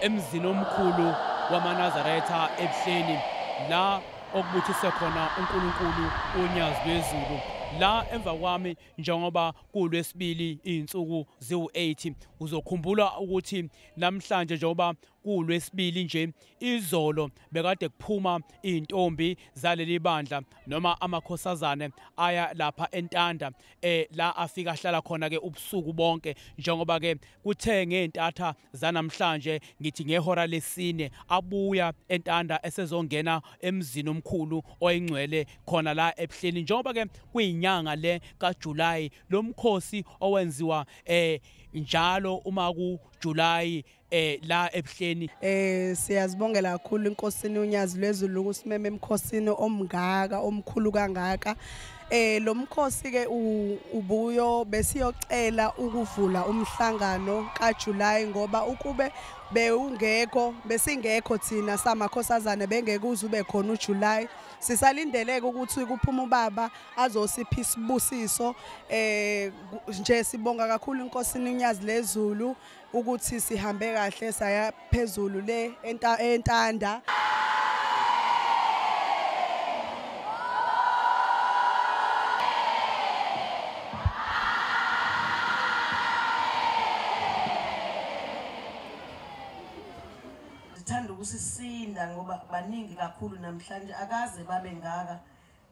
emzini omkhulu wamanazaretha ebuhleni la okubuthise khona uNkulunkulu unyazi lwezulu la emva kwami njengoba kulwesibili izinsuku ziwu8 uzokhumbula ukuthi namhlanje njengoba kulwesibili nje izolo bekade kuphuma izintombi zaleli bandla noma amakhosazane aya lapha entanda eh la afika ahlala khona ke ubusuku bonke njengoba ke kuthe ngezintatha zanamhlanje ngithi ngehora lesine abuya entanda esezongena emzini omkhulu oyingcwele khona la ebuhleni njengoba ke kuyinyanga le kaJuly lomkhosi owenziwa eh njalo uma kuJuly eh la ebuhleni eh siyazibongela kakhulu inkosini unyazi lwezulu ukusimema emkhosini omngaka omkhulu kangaka eh lo mkhosi ke ubuyo besiyocela ukuvula umhlangano kaJuly ngoba ukube bewungekho besingekho thina samakhosazane bengeke uzube khona uJuly sisalindeleke ukuthi kuphuma ubaba azosipha isibusiso eh nje sibonga kakhulu inkosini unyazi lezulu ukuthi sihambe kahle saya phezulu le entanda sithanda ukusisinda ngoba baningi kakhulu namhlanje akaze babe ngaka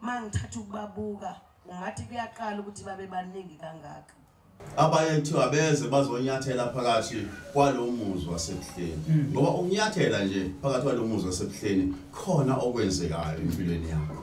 mangithatha ukubabuka ungathi kuyaqala ukuthi babe baningi kangaka abaye kuthiwa beze bazonyathela phakathi kwalo muzi wasebuhleni hmm. ngoba ukunyathela nje phakathi kwalo muzi wasebuhleni khona okwenzekayo empilweni yakho